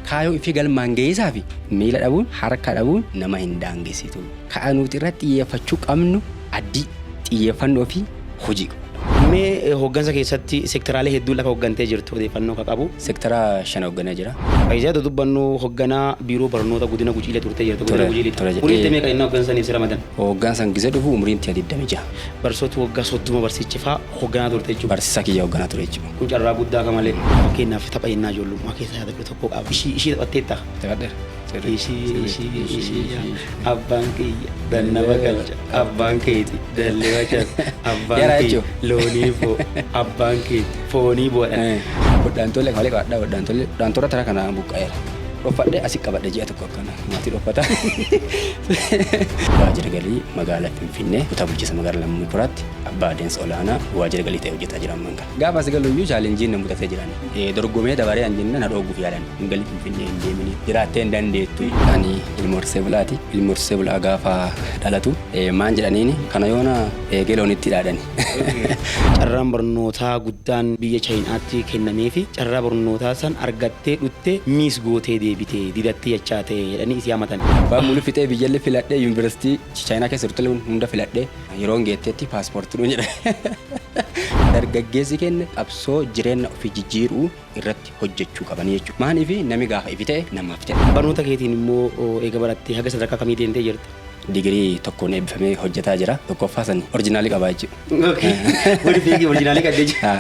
Kaayoo ifi galmaan gahiisaafi miila dhabuun, harka dhabuun nama hin daangessitu. Ka'a nuuti irratti xiyyeeffachuu qabnu addii, xiyyeeffannoo fi hojii. Mee hooggansa keessatti sekteraalee hedduun lafa hooggantee jirtu odeeffannoo ka qabu. Sektera shan hoogganee jira. Fayizaa otoo dubbannu hoogganaa biiroo barnoota Godina Gujiilee turtee jirta. Godina Ture, Gujiilee ture. Umriin tee meeqa yennaa hooggansa saniif si ramadan? Hooggansaan gizee dhufu umriin tiyya 26. Barsiisota waggaa 30 barsiichifaa hoogganaa turte jechuudha. Barsiisaa kiyya hoogganaa ture jechuudha. Kun carraa guddaa ka malee. Fakkeenyaaf tapha yennaa ijoollummaa keessa yaadadhu tokko qaaba. Ishii ishii taphatteettaa? Taphaadheera. Cirri. Ishii Cirri. ishii Ishii. ishii yaa Ishii. Ishii. abbaan kiyya dannaba galcha abbaan keeti dallee wachas abbaan Yaraa kiyya jechuun. loonii boo abbaan keeti foonii boodhan. Hodhaan tolle malee qaadhaa hodhaan tolle hodhaan torra tara kanaan buqqa'eera. Dhoffadhe asi qabadhe ji'a tokko akkana maatii dhoffata. Waajjira galii magaalaa Finfinnee kutaa bulchiinsa magaalaa Lammii Kuraatti abbaa adeemsa olaanaa waajjira galii ta'e hojjetaa jira ammaan. Gaafa as galuyyuu chaalenjiin na mudatee jiran. Dorgomee dabaree an jenna na dhoogguuf yaalan. Hin galin Finfinnee hin deemini. Jiraattee hin dandeettu. Ani ilma horsiisee bulaati. Ilmi horsiisee bulaa gaafa dhalatu maan jedhaniini kana yoona eegee loonitti dhaadani. Carraan barnootaa guddaan biyya Chayinaatti kennameefi carraa barnootaa san argattee dhuttee miis gootee deebite didattee jechaa ta'e jedhanii isii hamatani. Abbaan mulu fixee biyyallee filadhee yuunivarsiitii Chayinaa keessa jirtullee hunda filadhee Yeroon geettetti paaspoorti nu jedhan. Dargaggeessi keenya qabsoo jireenya ofii jijjiiruu irratti hojjechuu qaban jechuudha. Maaliif nami gaafa ifi ta'e namaaf ta'e. Barnoota keetiin immoo eega barattee haga sadarkaa kamii deemtee jirta? Digirii tokkoon eebbifamee hojjetaa jira. Tokkoffaa san orijinaalii qabaa jechuudha. Waliif eegii orijinaalii qabdee jechuudha.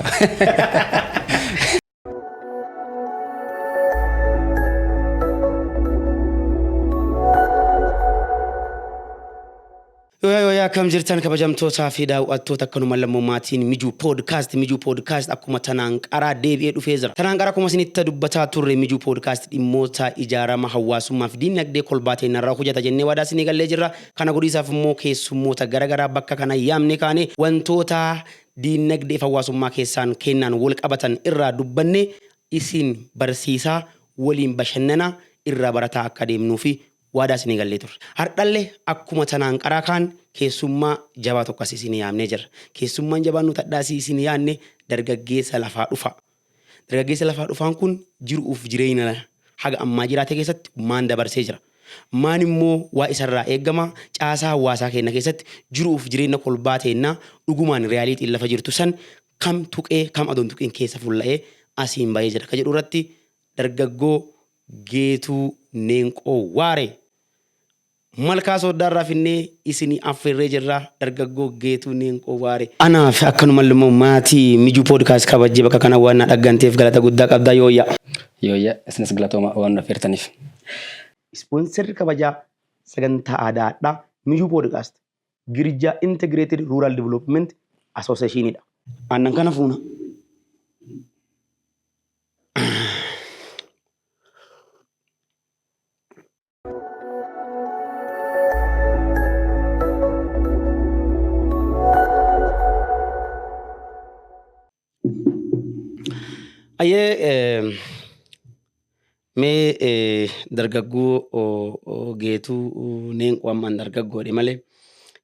Yooyaa yooyaa akkam jirtan kabajamtootaa fi daawwattoota akkanuma lammummaatiin mijuu poodkaast mijuu poodkaast akkuma tanaan qaraa deebi'ee dhufee jira. Tanaan qaraa akkuma isinitti dubbataa turre mijuu poodkaast dhimmoota ijaarama hawaasummaa fi diinagdee kolbaa ta'e narraa hojjeta jennee waadaa isinii gallee jirra. Kana godhiisaaf immoo keessummoota garaagaraa bakka kana yaamne kaane wantoota diinnagdeef hawaasummaa keessaan keennaan wal qabatan irraa dubbannee isin barsiisaa, waliin bashannanaa, irraa barataa akka adeemnuufi waadaa isinii gallee turre. Hardhalle akkuma tanaan qaraa kaan keessummaa jabaa tokko asii isinii yaamnee jirra. Keessummaan jabaan nuti hadhaa asii isinii yaanne dargaggeessa lafaa dhufaa. Dargaggeessi lafaa dhufaan kun jiru'uuf jireeyna haga ammaa jiraate keessatti maan dabarsee jira? Maan immoo waa isa irraa eegama? Caasaa hawwaasaa keenna keessatti jiru'uuf jireenna kolbaa teenna dhugumaan reality'n lafa jirtu san kam tuqee kam adoo hin tuqiin keessa fulla'ee asiin bahee jira ka jedhu irratti dargaggoo Geetuu Neenqoo Waaree Malkaa Sooddaa irraa finnee isinii affeerree jirra dargaggoo Geetuu Neenqoo Waare. Anaaf akkanumalle immoo maatii Mijuu Podcast kabajjee bakka kana waan na dhagganteef galata guddaa qabda Yooyyaa. Yooyyaa isinis galatoomaa waan nu affeertaniif. Ispoonserri kabajaa sagantaa aadaa hadhaa Mijuu Podcast Girjaa Integrated Rural Development Association dha. Aannan kana fuuna. Ayyee mee dargaggoo geetuu neenquu ammaan dargaggoodhe malee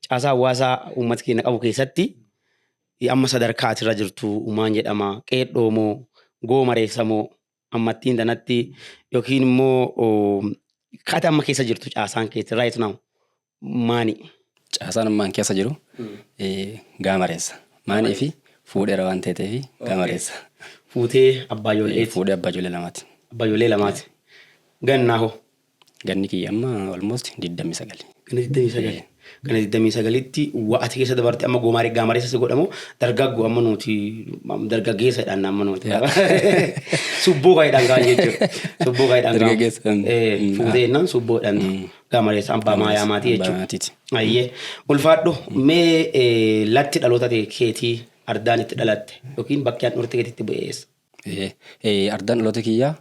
caasaa hawaasaa uummata keenya qabu keessatti amma sadarkaa asirra jirtu uumaan jedhama qeedhoomoo goomareessamoo ammattiin tanatti yookiin immoo kaata amma keessa jirtu caasaan keessa right now maani. Caasaan ammaan keessa jiru gaamareessa. Maanii fi fuudheera waan ta'eef gaamareessa. Fuutee abbaa ijoolleeti. Fuudhee abbaa ijoollee lamaati. Abbaa ijoollee lamaati. Gannaa hoo. Ganni kiyya amma almost 29. Ganna 29. Ee. Ganna 29tti waa ati keessa dabarte amma goomaaree gaamareessa si godhamu dargaggoo amma nuti am- dargaggeessa jedhan amma nuti. Yaa. Subboo kaayidhaan kaan jechuudha. Subboo kaayidhaan kaan. Dargaggeessa, mm. Ee, Mm. Fuutee jennaan subboo jedhan. Gaamareessa abbaa maayaa maatii Abbaa jechuudha. maatiiti. Ayyee. Ulfaadhu mee ee, latti dhaloota tee keetii ardaan itti dhalatte yookiin bakki handhuurte keetii itti bu'e eessa? Ardaan dhaloota kiyyaa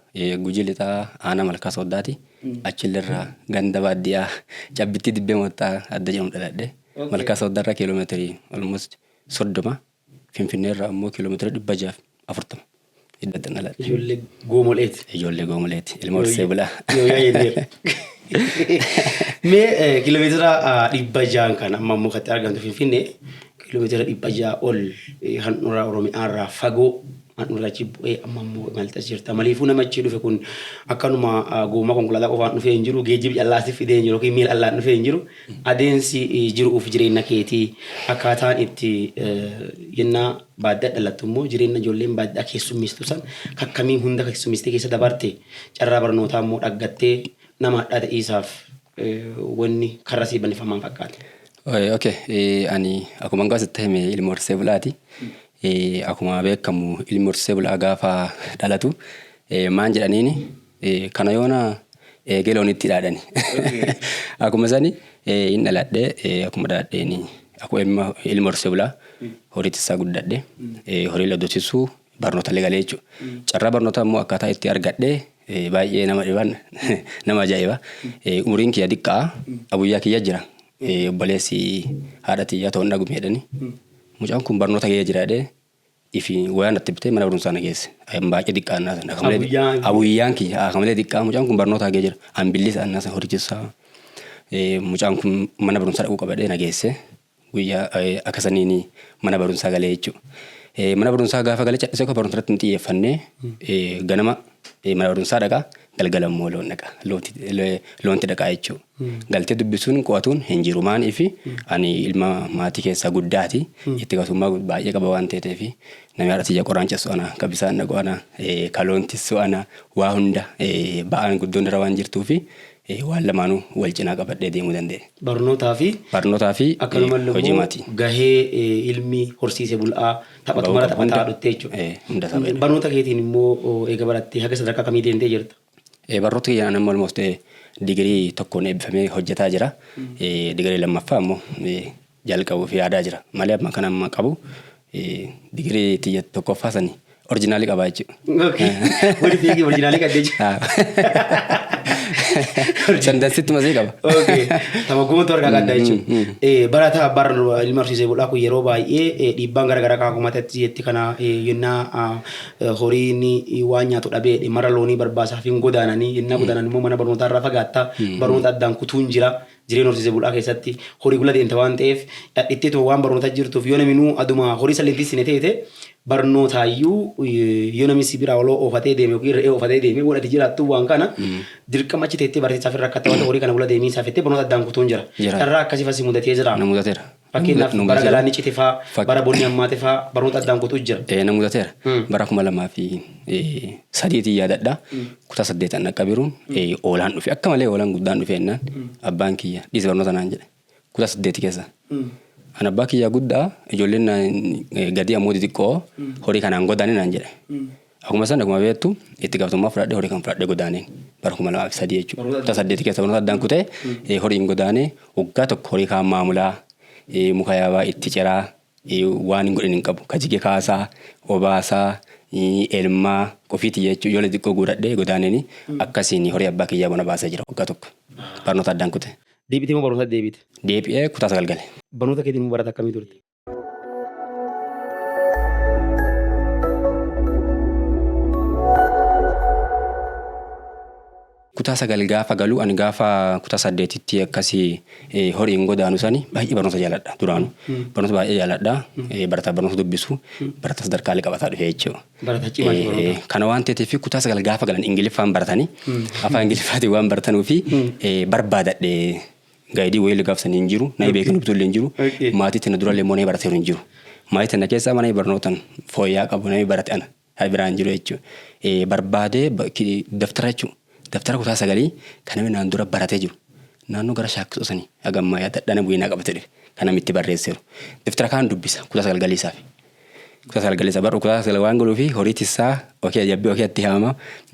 Gujii Lixaa Aanaa Malkaa Sooddaati. Achillerraa ganda baadiyyaa Cabbittii Dibbee Moottaa adda jedhamu dhaladhe. Malkaa Sooddaarraa kiiloomeetirii almost soddoma. Finfinneerraa immoo kiiloomeetira dhibba jaaf afurtama. Iddattan dhaladhe. Ijoollee goomoleeti. Ijoollee goomoleeti. Ilma horsee bulaa. Mee kiiloomeetira dhibba jaan kan amma immoo katti argamtu Finfinnee Kiilomeetira 600 ol handhuraa Oromiyaarraa fagoo handhuraa achi bu'ee amma immoo imaltas jirta. Maliifuu nama achi dhufe kun akkanuma gommaa konkolaataa qofaan dhufee hin jiru, geejjibi callaasif fidee hin jiru yookiin miila allaan dhufee hin jiru. Adeemsi jiruuf jireenya keetii akkaataan itti yennaa baadiyyaa dhalattu immoo jireenya ijoolleen baadiyyaa keessummeessitu san kakkamii hunda keessummeessitee keessa dabarte carraa barnootaa immoo dhaggattee nama hadhaa ta'iisaaf wanni karra sii bannifamaan fakkaata. Oye, okay. Eh, ani akkuma hangaa sitti hime ilma horsiisee bulaati. Eh, akkuma beekamu ilmi horsiisee bulaa gaafa dhalatu eh, maan jedhaniini eh, kana yoona eegee loonitti dhaadhani. akkuma sani eh, hin dhaladhe eh, akkuma dhaadheeni akkuma ilma ilma horsiisee bulaa horiitti isaa guddadhe eh, horii laddosisuu barnoota illee galee jechuudha. Carraa barnootaa immoo akkaataa itti argadhe baay'ee nama dhiban nama ajaa'iba. Umuriin kiyya diqqaa abuyyaa kiyya jira. Obboleessi haadha tiyyaa ta'uun dhagumee jedhani. Mucaan kun barnoota gahee jira jedhee ifi wayaan itti bitee mana barumsaa na geesse. Baay'ee diqqaa annaa sana. Abuyyaan kiyya akkamalee diqqaa mucaan kun barnoota gahee jira. Ambillis annaa sana horichisaa mucaan kun mana barumsaa dhaquu qabadee na geesse. Guyya aka sanini mana barunsa gale jechu. Mana barunsa gafa gale cadhise ko barunsa irratti hin xiyyefanne. Ganama mana barunsa dhaqa galgala immoo loon dhaqa. Loonti dhaqa jechu. Galtee dubbisuun qo'atuun hin jiru maan ifi ani ilma maatii keessaa guddaati. Itti gatummaa baay'ee qaba waan ta'eef namni haadha tiyya qoraan cessu ana ka bisaan dhaqu ana ka loon tissu ana waa hunda ba'aan guddoon irra waan jirtuufi Ee, waan lamaanuu wal cinaa qabadhee deemuu danda'e. Barnootaa fi Barnootaa fi akkanumalle hojii immoo maatii. gahee eh, ilmi horsiise bul'aa taphatu Bahuu mara qabu taphataa hunda. dhuttee jechuudha. Ee, hunda isaa bahee. Barnoota keetiin immoo oh, eega barattee haga sadarkaa kamii deemtee jirta? Ee, Barnoota kiyyaan amma almost ee, digirii tokkoon eebbifamee hojjetaa jira. Ee, Digirii lammaffaa ammoo ee, jalqabuuf yaadaa jira. Malee amma kan amma qabu digirii tiyya tokkoffaa sani orjinaalii qabaa jechuudha. Okay. Wani fiigi orjinaalii qabdee jira. Sandansitti masee qaba. Okay. Tapha guutuu harkaa qabdaa mm, jechuudha. Mm, mm. Barataa bara ilma horsiisee bulaa kun yeroo baay'ee dhiibbaan garaagaraa kan humatatti jetti kana yennaa horiin waan nyaatu dhabee mara loonii barbaasaaf hin godaananii yennaa godaanan immoo mana barnootaa irraa fagaatta barnoota addaan kutuun jira. Jireen horsiise bulaa keessatti hori gula deemta waan ta'eef dhadhittee too waan barnoota jirtuuf yoo naminuu aduma horii salleen tissine teete barnootaayyuu yoo namni si biraa oloo oofatee deeme yookiin re'ee oofatee deeme waan ati jiraattuu waan kana dirqama achi teettee barsiisaaf irra akka ta'u horii kana gula deemii isaa fettee barnoota addaan kutuun jira. Jira. Carraa akkasii fasi mudatee jira. Na mudateera. Fakkeenyaaf Nu bara gazeera. galaanni cite faa, Fak- bara bonni hammaate faa, baroota addaan kutu jira. Eh, na mudateera. Mm. Bara kuma lamaa fi eh, sadiitiin yaadadha. Kutaa saddeetan dhaqqabiruun eh, oolaan dhufe. Akka malee oolaan guddaan dhufe jennaan abbaan kiyya dhiisi barnoota naan jedhe. Kutaa saddeeti keessa. An abbaa kiyyaa guddaa ijoolleen naan eh, gadii ammoo xixiqqoo horii kanaan godaane naan jedhe. Akkuma san akkuma beektu itti gaafatamummaa fudhadhee horii kan fudhadhee godaaneen bara kuma lamaa fi sadii jechuudha. Kutaa saddeeti keessa barnoota addaan kutee eh, horiin godaanee waggaa tokko horii kaan maamulaa eh, muka yaabaa itti ciraa eh, waan hin godhin hin qabu. Ka jige kaasaa, obaasaa, eh, elmaa ofiiti jechuun ijoollee xiqqoo guuradhee godaaneen akkasiin horii abbaa kiyyaa bona baasee jira waggaa tokko. Barnoota addaan kutee. Deebitee moo barumsa deebite? Deebi'ee kutaa sagal gale. Barnoota keetiin moo barata akkamii turte? kutaa sagal gaafa galu ani gaafa kutaa saddeetitti akkasii eh, horiin godaanu sani baay'ee barnoota jaaladha duraanu barnoota baay'ee jaaladha eh, barataa barnoota dubbisu barataa sadarkaalee qabataa dhufe jechuudha. Barataa cimaa Eh, barnoota. eh, Kana waan ta'eef kutaa sagal gaafa galan ingiliffaan baratanii afaan ingiliffaatiin waan baratanuu fi eh, barbaadadhe Gaayidii wayillee gaaf san hin jiru. Nayi beekin hubtullee hin jiru. Okay. Maatii tana durallee immoo nayi barateeru hin jiru. Maatii tana keessaa mana barnootan fooyyaa qabu nayi barate ana. Hayi biraa hin jiru jechuudha. Eh, Barbaadee ba- ki- daftara jechuudha. Daftara kutaa sagalii kan namni naan dura baratee jiru. Naannoo gara shaakkisoo sanii hagammaa yaadadha na bu'ee naa qabatee dhufe. Kan namni itti barreesseeru. Daftara kaan dubbisa kutaa sagal galii isaafi. Dhukuta salgale saba dhukuta salgale waan godhuu fi horii tissaa okee ajabbii okee itti haama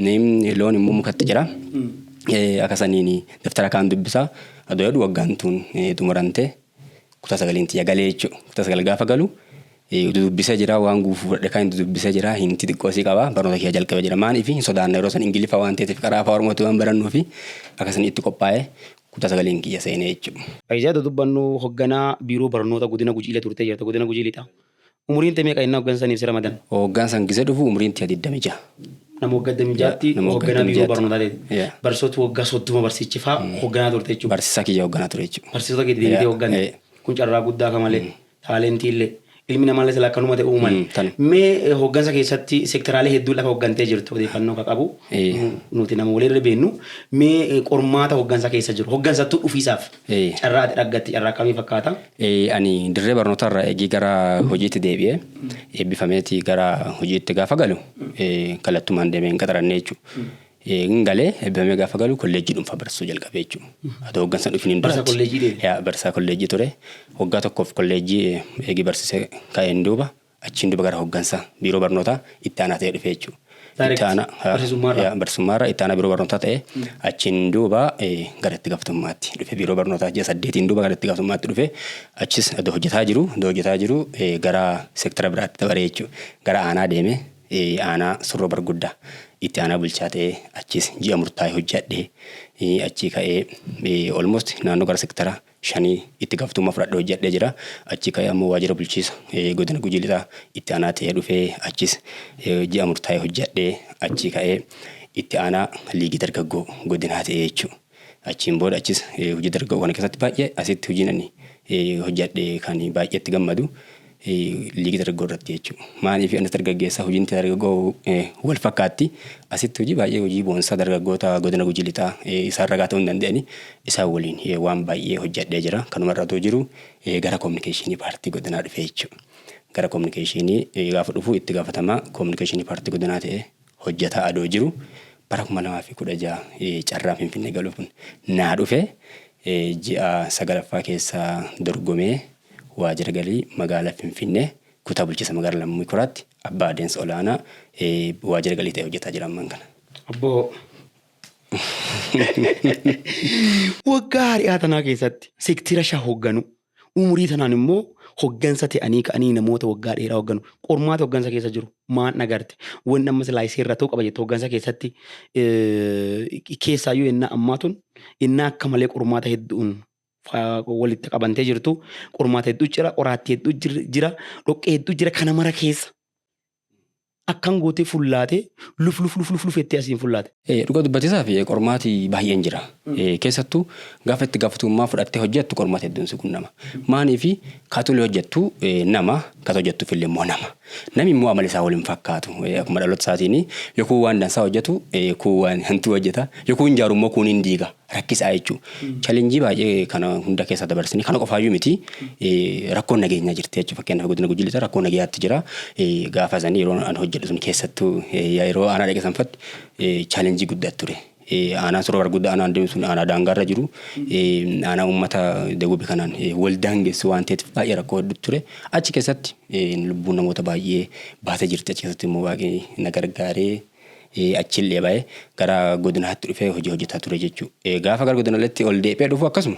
neemni loon immoo mukatti jira akka saniin daftara kaan dubbisa adoo jedhu waggaan tuun xumurante kutaa sagaleen tiyya galee jechuudha kutaa sagal gaafa galu dudubbisa jira waan guufuu fudhadhe kan dudubbisa jira hinti xiqqoosii qaba barnoota kiyya jalqabe jira maaliif hin sodaanna yeroo san ingiliffa waan ta'eef qaraa afaa oromootti waan barannuu fi akka sanii itti qophaa'e kutaa sagaliin kiyya seenee jechuudha. Fayizaa otoo dubbannuu hogganaa biiroo barnoota godina Gujiilee turtee jirta godina Gujii Lixaa. Umuriin tee meeqa yennaa hoggansa saniif si ramadan? Hoggan san gise dhufu umuriin tiya 26. Nama waggaa 26tti Nama waggaa hogganaa biiroo 26tti. barnootaa teete. Yeah. Barsiisota waggaa 30 barsiichi faa hogganaa turte jechuudha. Barsiisaa kiyya hogganaa ture jechuudha. Barsiisota kee deebitee Yeah, hogganne. yeah. Kun carraa guddaa ka malee. taalentiillee ilmi namaallee sila akkanuma ta'e uuman. Mm, kan. Mee eh, hooggansa keessatti sektaraalee hedduu lafa hooggantee jirtu odeeffannoo ka qabu Eh. nu- nuti nama walirra beennu mee eh, qormaata hooggansa keessa jiru hooggansattuu dhufiisaaf Eh. carraa ati dhaggatti carraa akkamii fakkaata? Eh, ani dirree barnootaa irraa eegii gara hojiitti deebi'ee eebbifameeti gara hojiitti gaafa galu eh, kallattumaan deemeen qaxarannee jechuudha. Hin gale ebbifamee gaafa galu kolleejjii dhuunfaa barsiisuu jalqabe jechuudha. Adoo hoggansa hin dhufiniin Barsaa duratti. kolleejjii deeme. Yaa barsiisaa kolleejjii ture. Waggaa tokkoof kolleejjii eegi barsiise ka'een duuba achiin duuba gara hoggansa biiroo barnootaa itti aanaa ta'ee dhufe jechuudha. Direct, Itti aanaa haa, barsiisummaarraa. yaa, barsiisummaarraa itti aanaa biiroo barnootaa ta'ee achiin duuba eh, gara itti gaafatamummaatti dhufe biiroo barnootaa ji'a saddeetiin duuba gara itti gaafatamummaatti dhufe achis adoo hojjetaa jiru adoo hojjetaa jiru eh, gara seektara biraatti dabaree jechuudha. Gara aanaa deeme. Aanaa Surroo Barguddaa itti aanaa bulchaa ta'ee achiis ji'a murtaa'e hojjadhe. Achii ka'ee almost naannoo gara sektara shanii itti gaafatamummaa fudhadhe hojjadhee jira. Achii ka'ee ammoo waajjira bulchiisa godina Gujii Lixaa itti aanaa ta'ee dhufee achiis ji'a murtaa'e hojjadhee achii ka'ee itti aanaa liigii dargaggoo godinaa ta'ee jechuudha. Achiin booda achis hojii dargaggoo kana keessatti baay'ee asitti hojiin ani hojjadhe kan baay'ee itti gammadu liigii dargaggoo irratti jechuudha. Maaliif anis dargaggeessa hojiin dargaggoo wal fakkaatti asitti hojii baay'ee hojii boonsaa dargaggoota godina gujii lixaa isaan ragaa ta'uu hin danda'ani isaan waliin waan baay'ee hojjadhee jira. Kanuma irra otoo jiru gara kominikeeshinii paartii godinaa dhufee jechuudha. Gara kominikeeshinii gaafa dhufu itti gaafatamaa kominikeeshinii paartii godinaa ta'ee hojjataa adoo jiru bara 2016 carraan Finfinnee galuu kun naa dhufe. Ji'a 9ffaa keessa dorgomee waajira galii magaala Finfinnee kutaa bulchiinsa magaala Lammii Kuraatti abbaa adeemsa olaanaa waajira galii ta'ee hojjataa jira ammaan kana. Obbo. Waggaa hari'aa tanaa keessatti sektira shan hogganuu. Umurii tanaan immoo hoggansa ta'anii ka'anii namoota waggaa dheeraa hogganu. Qormaata hoggansa keessa jiru maan dhagarte? Wanni amma silaa isii irra ta'uu qaba jette hoggansa keessatti keessaayyuu ennaa ammaa tun ennaa akka malee qormaata hedduun walitti qabantee jirtu. Qormaata hedduu jira, qoraatti hedduu jira, dhoqqee hedduu jira kana mara keessa. akkan gootee fullaate luf luf luf luf luf jettee asiin fullaate. Dhuga dubbatisaaf qormaati baay'een jira. Keessattu gaafa itti gaafatamummaa fudhattee hojjettu qormaata hedduun si qunnama. Maaliifi kaatuli hojjettu nama kata hojjettuf illee immoo nama. Nami immoo amali isaa waliin fakkaatu. Akkuma dhaloota isaatiin yokuu waan dansaa hojjetu kuu waan hantuu hojjeta. Yokuu hin jaaru immoo kuun hin diiga. rakkisaa jechuu. Chalenjii baay'ee kana hunda keessa dabarsanii kana qofaayyuu miti rakkoon nageenyaa jirti jechuudha. Fakkeenyaaf godina Gujii Lixaa rakkoo nagayaatti jira. Gaafa sanii yeroo an hojjedhu sun keessattuu yeroo aanaa dhaqe sanfatti chalenjii guddaa ture. Aanaan suroo argudda aanaan deemu sun aanaa daangaarra jiru. Aanaa uummata dagubi kanaan wal daangessu waan ta'eef baay'ee rakkoo hedduu ture. Achi keessatti lubbuun namoota baay'ee baatee jirti. Achi keessatti immoo waaqni na gargaaree achillee ba'ee gara godinaatti dhufee hojii hojjetaa ture jechuudha. Gaafa gara godinaleetti ol deebi'ee dhufu akkasuma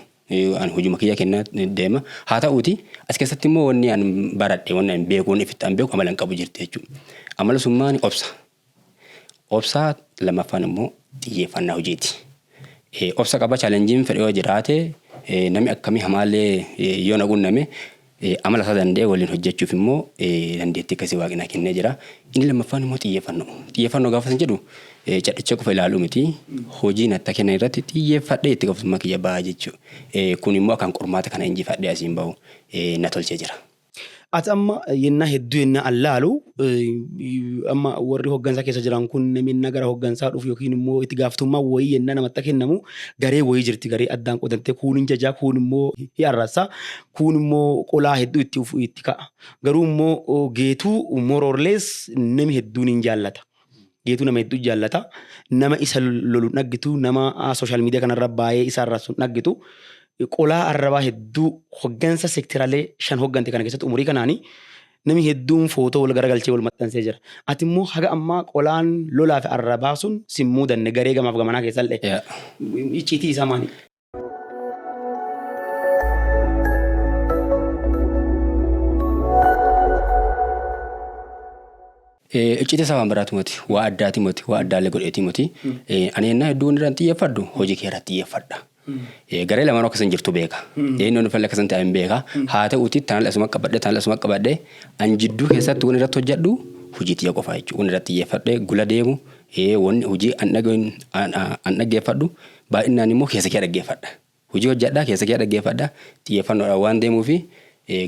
an hojuma kiyya kennaa deema. Haa ta'uuti as keessatti immoo wanni an baradhe wanni an beeku wanni ofitti an beeku amala hin qabu jirti jechuudha. Amala summaan obsa. Obsaa lammaffaan immoo xiyyeeffannaa hojiiti. Obsa qaba chaalenjiin fedhe yoo jiraate namni akkamii hamaallee yoo na qunname Amala isaa danda'e waliin hojjechuuf immoo dandeettii akkasii waaqni na kennee jira. Inni lammaffaan immoo xiyyeeffannoo. Xiyyeeffannoo gaafa isin jedhu cadhicha qofa ilaaluu miti. Hojii natti kennan irratti xiyyeeffadhee itti gaafatamummaa kiyya ba'a jechuudha. Kun immoo akkaan qormaata kana injifadhee asiin bahu na tolchee jira. Ati amma yennaa hedduu yennaa an laalu amma warri hoggansaa keessa jiran kun namni gara hoggansaa dhufu yookiin immoo itti gaafatamummaa wayii yennaa namatti kennamu garee wayii jirti garee addaan qodantee kuun hin jajaa kuun immoo hin arrasa kuun immoo qolaa hedduu itti ufu itti ka'a garuu immoo geetuu moroorlees nami hedduun hin jaallata. Geetuu nama hedduu jaallata nama isa lolu dhaggitu nama sooshaal miidiyaa kanarra baay'ee isa arrabsu dhaggitu qolaa arrabaa hedduu hoggansa sektiralee shan hoggante kana keessatti umurii kanaanii Nami hedduun footoo wal garagalchee wal maxxansee jira. Ati immoo haga ammaa qolaan lolaa fi arraa baasuun si hin muudanne garee gamaaf gamanaa keessallee. Yeah. Icciitii isaa maali? Eh, Icciitii isaa waan biraati moti. Waa addaati moti. Waa addaallee godheeti moti. Eh, Ani ennaa hedduu wanni irraan xiyyeeffadhu hojii kee irratti xiyyeeffadha. Garee lamaanuu akka isin jirtu beeka. Eenyu inni falle akka isin taa'in beeka. Haa ta'uutii tanal asuma qabadhe tanal asuma qabadhe an jidduu keessatti wanni irratti hojjedhu hojii tiyya qofaa jechuudha. Wanni irratti xiyyeeffadhe gula deemu wanni hojii an dhaga'in an dhaggeeffadhu baay'inaan immoo keessa kee dhaggeeffadha. Hojii hojjedhaa keessa kee dhaggeeffadha xiyyeeffannoodhaan waan deemuufi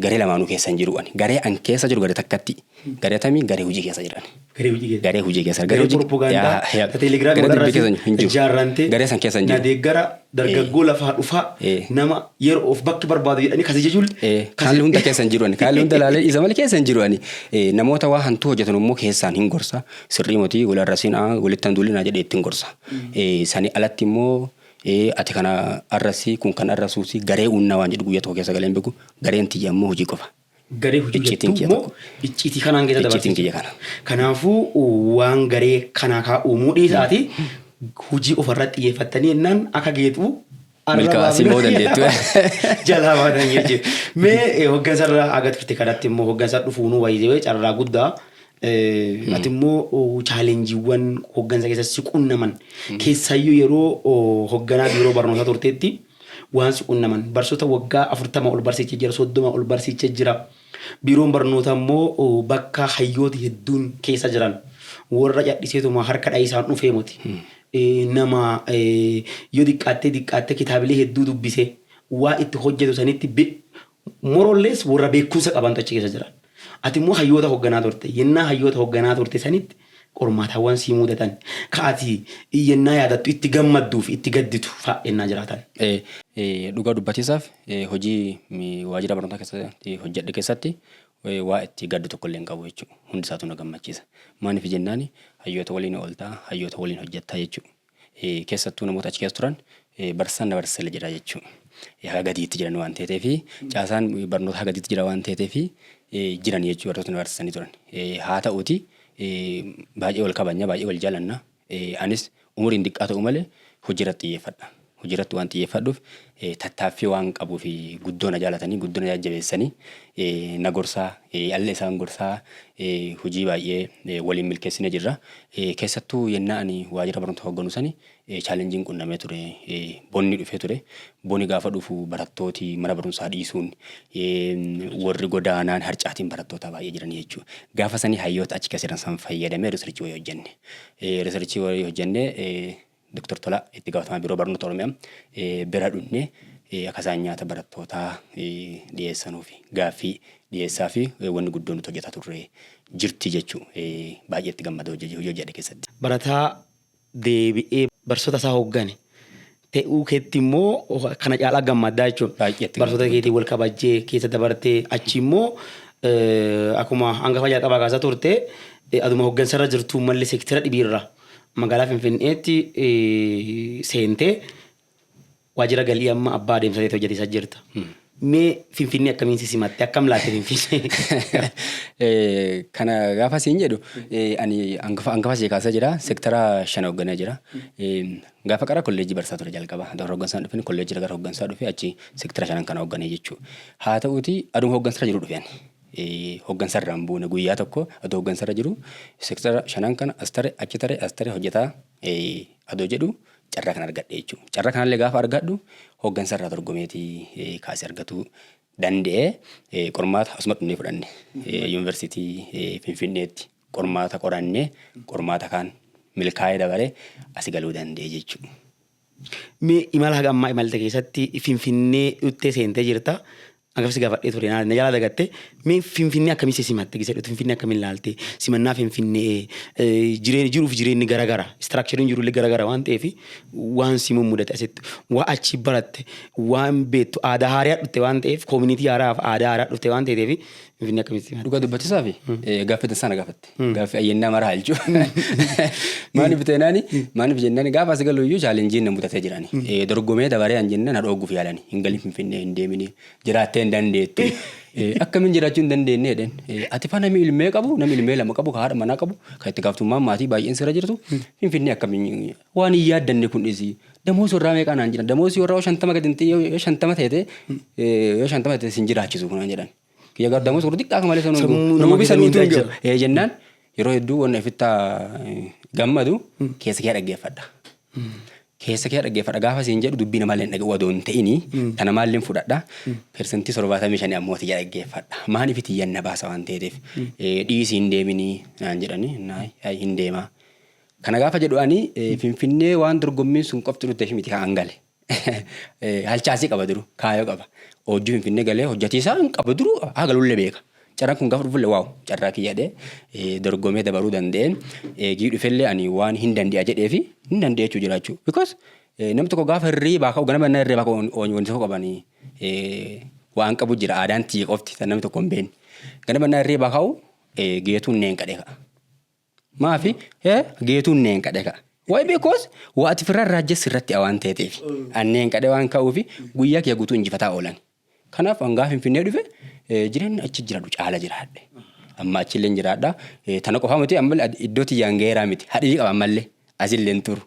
Garee lamaanuu keessa hin jiru ani. Garee an keessa jiru garee takkatti. Garee atamii garee hojii keessa jiran. Garee hojii keessa. Garee hojii keessa. Garee propagaandaa ta telegiraamii Garee dubbii keessa hin walirratti jiru. ijaarrante Garee san keessa hin na jiru. deeggara dargaggoo lafaa dhufaa Eh. nama yeroo of bakki barbaadu jedhanii kasi jechuun Eh, Kaalli hunda keessa hin jiru ani. Kaalli hunda ilaalee isa malee keessa hin jiru ani. Eh, Namoota waa hantuu hojjetan immoo keessaan hin gorsa. Sirrii moti wal arrasiin aa walitti handuulin aa jedhee ittiin gorsa. Eh, Sani alatti immoo Ee ati kana arrasii kun kan arrasuusi garee uunna waan jedhu guyyaa tokko keessa galee hin beeku gareen tiyya ammoo hojii qofa. Garee hojii Icciitiin jettu kiyya immoo tokko. icciitii kanaan keessa Icciitiin dabarsiisu. kiyya kana. Kanaafuu waan garee kanaa kaa uumuu dhiisaati hojii ofarratti xiyyeeffattanii jennaan akka geetu Milkaa'aa si bahuu dandeettu. jalaa baatan jechuudha. Mee eh, hoggansarra aga turte kanatti immoo hoggansa dhufuunuu wayizeewee carraa guddaa Atimmoo chaalenjiiwwan hoggansa keessatti si qunnaman keessaayyuu yeroo hogganaa biiroo barnootaa turteetti waan si qunnaman barsoota waggaa afurtama ol barsiicha jira soddoma ol barsiicha jira biiroon barnootaa immoo bakka hayyooti hedduun keessa jiran warra cadhiseetuma harka dha'iisaan dhufee moti nama yoo diqqaattee diqqaattee kitaabilee hedduu dubbise waa itti hojjetu sanitti More or less warra beekumsa qabantu achi keessa jira. Ati immoo hayyoota hogganaa turte. Yennaa hayyoota hogganaa turte sanitti qormaatawwan si muudatan ka ati yennaa yaadattu itti gammadduu fi itti gadditu fa'a yennaa jiraatan. Dhugaa dubbatiisaaf hojii waajjira barnootaa keessatti hojjedhe keessatti waa itti gaddu tokkollee hin qabu jechuudha. Hundi isaatu na gammachiisa. Maaliif jennaan hayyoota waliin ooltaa, hayyoota waliin hojjettaa jechuudha. keessattuu namoota achi keessa turan barsiisaan na barsiisale jedha jechuun haga gadiitti jiran waan ta'eef fi caasaan barnoota haga gadiitti jira waan ta'eef fi jiran jechuun barnoota na barsiisanii turan. Haa ta'uuti baay'ee wal kabajna baay'ee wal jaalanna anis umuriin diqqaa ta'u malee hojii irratti xiyyeeffadha. Hojii irratti waan xiyyeeffadhuuf tattaaffii waan qabuuf guddoo na jaalatanii guddoo na jajjabeessanii na gorsaa alle isaan gorsaa hojii baay'ee waliin milkeessine jirra. Keessattuu yennaa ani waajjira barnoota hogganu sani chaalenjiin qunnamee ture bonni dhufee ture. Boni gaafa dhufu barattooti mana barumsaa dhiisuun warri godaanaan harcaatiin barattootaa baay'ee jiran jechuudha. Gaafa sanii hayyoota achi keessa jiran san fayyadamee riisarchii wayii hojjenne. Riisarchii wayii hojjenne Doktar Tolaa itti gaafatamaa Biiroo Barnoota Oromiyaa bira dhufnee akka isaan nyaata barattootaa dhiyeessanuufi gaaffii dhiyeessaa fi wanni guddoo nuti hojjetaa turre jirti jechuu baay'ee itti gammada hojii hojjedhe keessatti. Barataa deebi'ee barsoota isaa hooggane ta'uu keetti immoo kana caalaa gammaddaa jechuun barsoota keetii wal kabajjee keessa dabartee achi immoo akkuma hangafa jalqabaa kaasa turte aduma hooggansarra jirtu malli seektira dhibiirra Magaalaa Finfinneetti seentee waajjira galii amma abbaa adeemsa ta'etti hojjeteessa jirta. Mee Finfinnee akkamiin si simatte? Akkam laatte Finfinnee? Kana gaafa siin jedhu ani hangafa ishee kaasee jira. Sektara shan hoogganee jira. Gaafa qara kolleejjii barsaa ture jalqaba. Dora hooggansaan dhufeen kolleejjii gara hooggansaa dhufe achi sektara shanan kana hoogganee jechuudha. Haa ta'uuti aduun hooggansarra jiru dhufeen. hoggansarraa hin buune guyyaa tokko adoo hoggansarra jiru sektara shanan kana as tare achi tare as tare hojjetaa adoo jedhu carraa kan argadhe jechuudha. Carraa kanallee gaafa argadhu hoggansarraa dorgomeeti kaasee argatuu danda'e qormaata asuma dhufnee fudhanne yuunivarsiitii Finfinneetti qormaata qorannee qormaata kaan milkaa'ee dabaree asi galuu danda'e jechuudha. Mee imala haga ammaa imalte keessatti Finfinnee dhuttee seentee jirta. Angaf si gaafadhee ture na jalaa dagatte. Mee Finfinnee akkamii si simatte gisa dhutte Finfinnee akkamiin ilaalte simannaa Finfinnee jireen jiruuf jireenyi gara gara istiraakchariin jirullee gara gara waan ta'eef waan si mummudate asitti waa achi baratte waan beektu aadaa haaraa dhutte waan ta'eef koominiitii haaraaf aadaa haaraa dhutte waan ta'eef Finfinnee akkamitti simatte? Dhugaa dubbachuusaaf gaaffiidhaan sana gaafatte. Gaaffii ayyannaa maraa halchu. Maaliif teenaani maaliif jennaan gaafa as galu iyyuu chaalenjiin na mudatee jirani. Dorgomee dabaree an jennaan na dhoogguuf yaalani. Hin galin finfinnee hin deemini jiraattee hin dandeettu. Akkamiin jiraachuu hin dandeenye jedheen. Ati fa namni ilmee qabu namni ilmee lama qabu ka haadha manaa qabu kan itti gaaftummaan maatii baay'een sirra jirtu finfinnee akkamiin waan hin yaaddanne kun dhisi. Damoos warraa meeqaa naan jedhan damoos warraa shantama gadi yoo shantama ta'e yoo shantama ta'e sin jiraachisu kun jedhan. Kiyya gardamus warri xiqqaa akka malee sana hunduu. Sammuu nama Nama keessa bisanuutu hin miidhaa jiru. jira. Ee jennaan yeroo hedduu wanna ifittaa gammadu keessa kee dhaggeeffadha. Keessa kee dhaggeeffadha gaafa siin jedhu dubbii namaa illee dhaga'u adoo hin ta'ini tana maalleen fudhadha. Persentii torbaatamii shanii ammoo tiyya dhaggeeffadha. Maan ifi tiyyan na baasa waan ta'eef dhiisii hin deeminii naan jedhanii naay ayi hin deemaa. Kana gaafa jedhu ani eh, Finfinnee waan dorgommiin sun qofti dhufteef miti kan gale. Halchaasii qaba duruu kaayoo qaba. Oojjii Finfinnee galee hojjatiisaa hin qabu duruu haa galullee beeka. Carraan kun gaafa dhufullee waaw carraa kiyyadhee dorgomee dabaruu danda'ee eegii dhufellee ani waan hin dande'a jedhee fi hin dande'a jechuu jiraachuu. Because namni tokko gaafa hirriibaa ka'u ganama innaa hirriibaa ka'u wanti tokko qabanii waan qabu jira aadaan tiyya qofti kan namni tokko hin beekne. Ganama innaa hirriibaa ka'u geetuun neen qadhee ka'a. Maafi eh, geetuun neenqadhe ka'a. Why because waa ati firraan raajjes sirratti a waan teeteefi. An neenqadhe waan ka'uufi guyyaa kiyya guutuu injifataa oolan. Kanaaf an gaafa Finfinnee dhufe eh, jireenna achi jiradhu caala jiraadhe. Amma achilleen jiraadha. Eh, tana qofaa miti ammallee ad- iddoo tiyyaan gaheeraa miti. Hadhii qaba ammallee. Asilleen turu.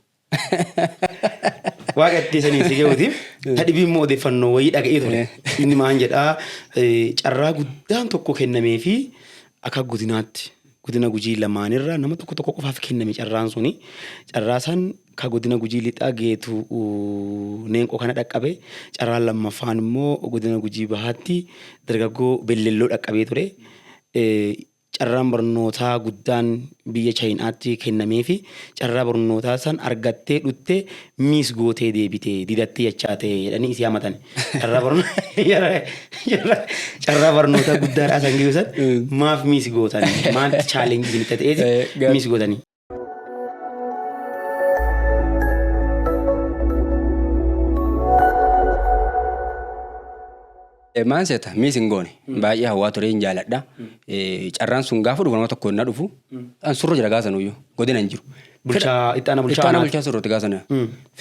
Waaqa itti sanii si ga'uutiif ta dhibii immoo odeeffannoo wayii dhaga'ee ture. Inni maan jedhaa eh, carraa guddaan tokko kennamee fi akka godinaatti godina gujii lamaanirra nama tokko tokko qofaaf kenname carraan suni. Carraa san ka godina gujii lixaa geetu uh, neenqoo kana dhaqqabe. Carraan lammaffaan immoo godina gujii bahaatti dargaggoo bellelloo dhaqqabee ture. Eh, carraan barnootaa guddaan biyya chayinaatti kennameefi carraa barnootaa san argattee dhutte miis gootee deebite didattee jechaa ta'e jedhanii isii hamatani. Carraa barno- carraa- carraa barnootaa guddaadhaa san gidduu san maaf miis gootani? Maaltu chaalenjii isinitti ta'eeti Eh, gar- miis gootani? Maan seeta miis hin goone baay'ee hawaa turee hin jaaladha. Carraan sun gaafa dhufu nama tokko na dhufu an surra jira gaafa sanuyyuu godina hin jiru. Bulchaa itti aanaa bulchaa Itti aanaa aanaa. bulchaa surratti gaafa sana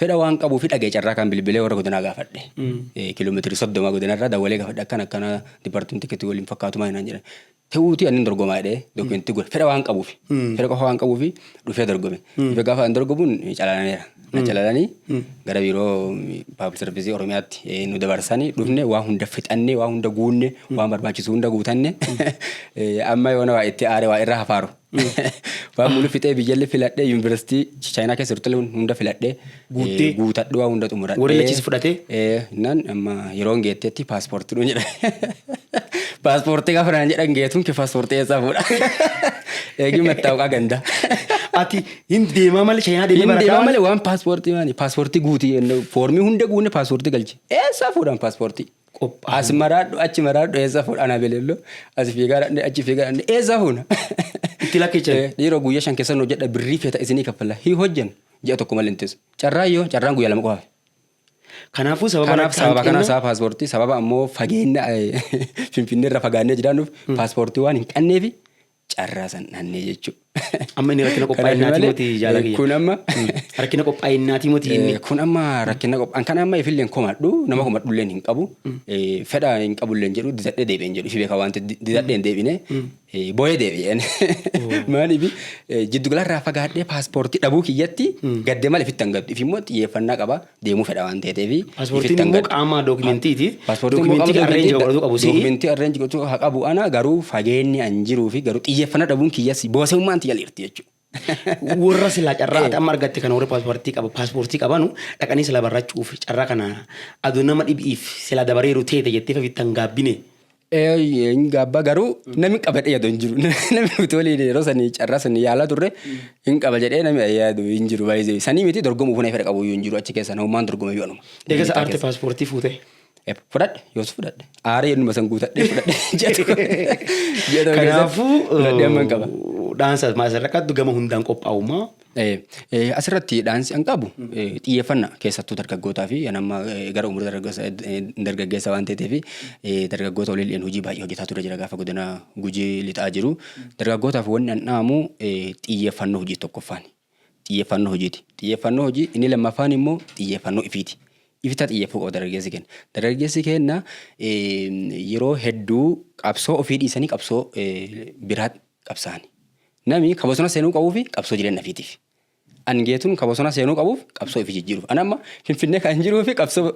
fedha waan qabuu fi dhagee carraa kan bilbilee warra godinaa gaafadhe. Kiiloomeetirii soddoma godinarraa dawwalee gaafadhe akkana akkana dipartimentii keetti waliin fakkaatu maal naan jedhan. Ta'uutii annin dorgomaa jedhee dookumentii godhe fedha waan qabuufi. Fedha qofa waan qabuufi dhufee dorgome. Dhufee gaafa an dorgomuun calalaneera. Na calalanii gara biiroo paablik sarvisii Oromiyaatti eh, nu dabarsanii dhufne waa hunda fixannee waa hunda guunne waan barbaachisu hunda guutanne Eh, amma yoona waa itti aare waa irra hafaaru. Waan mulu fixee biyyalli filadhee yuunivarsiitii chaayinaa keessa turte hunda filadhee Guuttee? eh, guutadhee waa hunda xumuradhee. Warri lachis fudhatee? Eh, Nan amma yeroon geetteetti paaspoortii dhuun jedha. Paaspoortii gaafa naan jedhan geetuun kee paaspoortii eessaa fuudha. Eegii mattaawqaa gandaa. Ati hin deemaa malee chaayinaa deemee Inni barataa deemaa waan- malee waan paaspoortii maani paaspoortii guutii foormii hunda guunne paaspoortii galche. Eessaa fuudhan paaspoortii? Qophaa'uu. As maraadhu achi maraadhu eessa fuudha ana belello as fiigaa dhaqne achi fiigaa dhaqne eessa fuuna. Itti lakkichan. Eh, Dhiiroo guyyaa shan keessan hojjedha birrii feeta isinii kaffalla hin hojjennu ji'a tokko malee hin teessu. Carraan yoo carraan guyyaa lama qofa hafe. Kanaafuu sababa Kanaaf natti sababa kanaaf hanqina- sababa paaspoortii sababa ammoo fageenya eh, finfinnee irra fagaannee jiraannuuf paaspoortii waan hin qabneef carraa san dhannee jechuudha. Amma inni rakkina qophaa'innaati moti jaala kiyya. Kun amma rakkina qophaa'innaati moti inni. Kun amma rakkina qophaa'in kan amma ifillee hin komadhu nama komadhullee hin qabu fedha hin qabullee jedhu didadhee deebi'een jedhu ifi beeka waan didadhee hin deebine booyee deebi'een. Maaliif jiddu galarraa fagaadhee paaspoortii dhabuu kiyyatti gaddee malee fitti hin gaddu ifimmoo xiyyeeffannaa qaba. deemuu fedha waan ta'eef. Pasportiin immoo qaamaa dookumentiiti. Pasportiin immoo qaamaa dookumentii godhatu qabu si'i. Dookumentii arreenji godhatu haa qabu ana garuu fageenni an jiruu fi garuu xiyyeeffannaa dhabuun kiyyas boosewummaan tiyya lirti jechuudha. Warra silaa carraa ati amma argatte kana warri paaspoortii qaba paaspoortii qabanu dhaqanii silaa barrachuuf carraa kana aduu nama dhibiif silaa dabareeru teete jettee fafittan gaabbine. Hin gaabba garuu namni qaba jedhee yaadu hin jiru. Namni nuti waliin yeroo sanii carraa sanii yaalaa turre hin qaba jedhee namni yaadu hin jiru baay'ee. Sanii miti dorgomuuf na fedha qabu hin jiru achi keessa namumaan dorgome yoo anuma. Eega isa aarte paaspoortii fuutee. Fudhadhe yoos fudhadhe. Aaree innuma san guutadhee fudhadhe. Ji'a tokko keessatti. Kanaafuu fudhadhee amman qaba. dhaansa maasarra qabdu gama hundaan qophaa'ummaa. Asirratti dhaansi an qabu xiyyeeffannaa keessattuu dargaggootaa fi an amma gara umurii dargaggeessa waan ta'eef dargaggoota waliin hojii baay'ee hojjetaa ture jira gaafa godina gujii lixaa jiru. Dargaggootaaf wanni an dhaamu xiyyeeffannoo hojii tokkoffaan. Xiyyeeffannoo hojiiti. Xiyyeeffannoo hojii inni lammaffaan immoo xiyyeeffannoo ifiiti. Ifitaa xiyyeeffuu qaba dargaggeessi keenya. Dargaggeessi keenya yeroo hedduu qabsoo ofii dhiisanii qabsoo biraa qabsaani. Nami ka bosona seenuu qabuufi qabsoo jireenna fiitiif. An Geetuun ka bosona seenuu qabuuf qabsoo ifi jijjiiruuf. An amma Finfinnee kan jiruufi qabsoo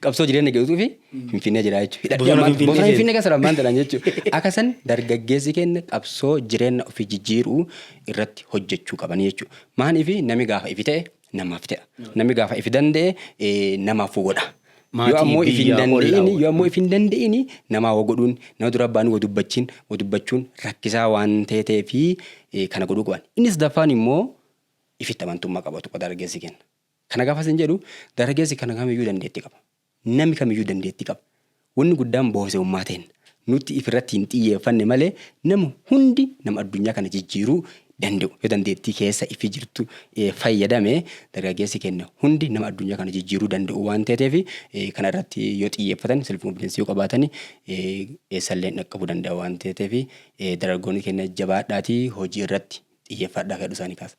qabsoo jireenna Geetuufi Finfinnee jiraa jechuudha. Hidhadhee Bosona ammaan Finfinnee bosona seenu. Finfinnee keessa ammaan tanaan jechuudha. Akka san dargaggeessi keenya qabsoo jireenna ofi jijjiiruu irratti hojjechuu qabanii jechuudha. Maaniifi nami gaafa ifi ta'e namaaf ta'a. Namni gaafa ifi danda'e namaaf godha. Yoo ammoo ifi hin danda'in yoo ammoo ifi hin danda'in namaa wa godhuun nama dura abbaan wa dubbachiin wa dubbachuun rakkisaa waan ta'ee fi kana godhuu qaban. Inni sadaffaan immoo ifitti amantummaa qabatu dargaggeessi kenna. Kana gaafa isin jedhu dargaggeessi kana kamiyyuu dandeetti qaba. Nami kamiyyuu dandeettii qaba. Wonni guddaan boosewummaa teenna. Nutti if irratti hin xiyyeeffanne malee nami hundi nama addunyaa kana jijjiiruu dande'u. Yoo dandeettii keessa ifi jirtu fayyadame dargaggeessi keenna hundi nama addunyaa kana jijjiiruu danda'u waan teeteef kana irratti yoo xiyyeeffatan self confidence yoo qabaatan eessallee dhaqqabuu danda'a waan teeteef dargaggoonni keenna jabaadhaatii hojii irratti xiyyeeffadhaa fedhu isaanii kaasa.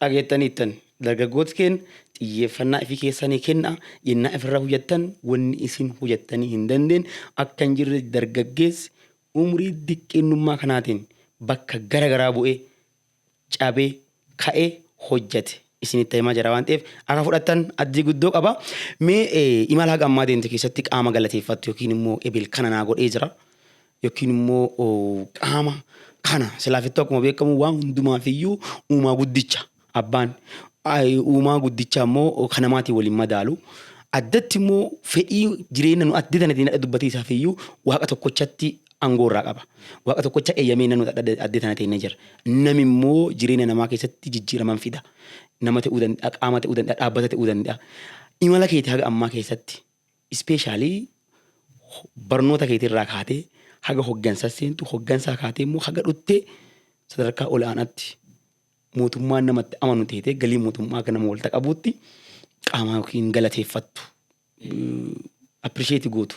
Dhageettaniittan, dargaggooti keen xiyyeeffannaa ifi keessanii kennaa, yennaa ifirraa hujattan wonni isin hujattanii hin dandeenne akka hin jirre dargaggeessi umrii diqqeennummaa kanaatiin bakka gara garaa bu'ee, cabee, ka'ee hojjate isinitti himaa jira waan ta'eef akka fudhattan addii guddoo qaba. Mee imala haga ammaa deemte keessatti qaama galateeffattu yookiin immoo ebel kana naa godhee jira. yookiin immoo qaama kana silaafittuu akkuma beekamu waan hundumaaf iyyuu uumaa guddicha abbaan uumaa guddicha immoo kan namaatiin waliin madaalu addatti immoo fedhii jireenya nu adda tanatiin adda dubbatee isaaf iyyuu waaqa tokkochatti aangoo irraa qaba. Waaqa tokkocha eeyyamee nanu adda tana ta'e jira. Nami immoo jireenya namaa keessatti jijjiiraman fida. Nama ta'uu danda'a, qaama ta'uu danda'a, dhaabbata ta'uu danda'a. Imala keetii haga ammaa keessatti Especially barnoota keetii irraa kaatee haga hoggansa seentu, hoggansaa kaatee immoo haga dhuttee sadarkaa ol'aanaatti mootummaan namatti amanu teetee galii mootummaa akka nama walta qabuutti qaamaa yookiin galateeffattu appirisheeti gootu.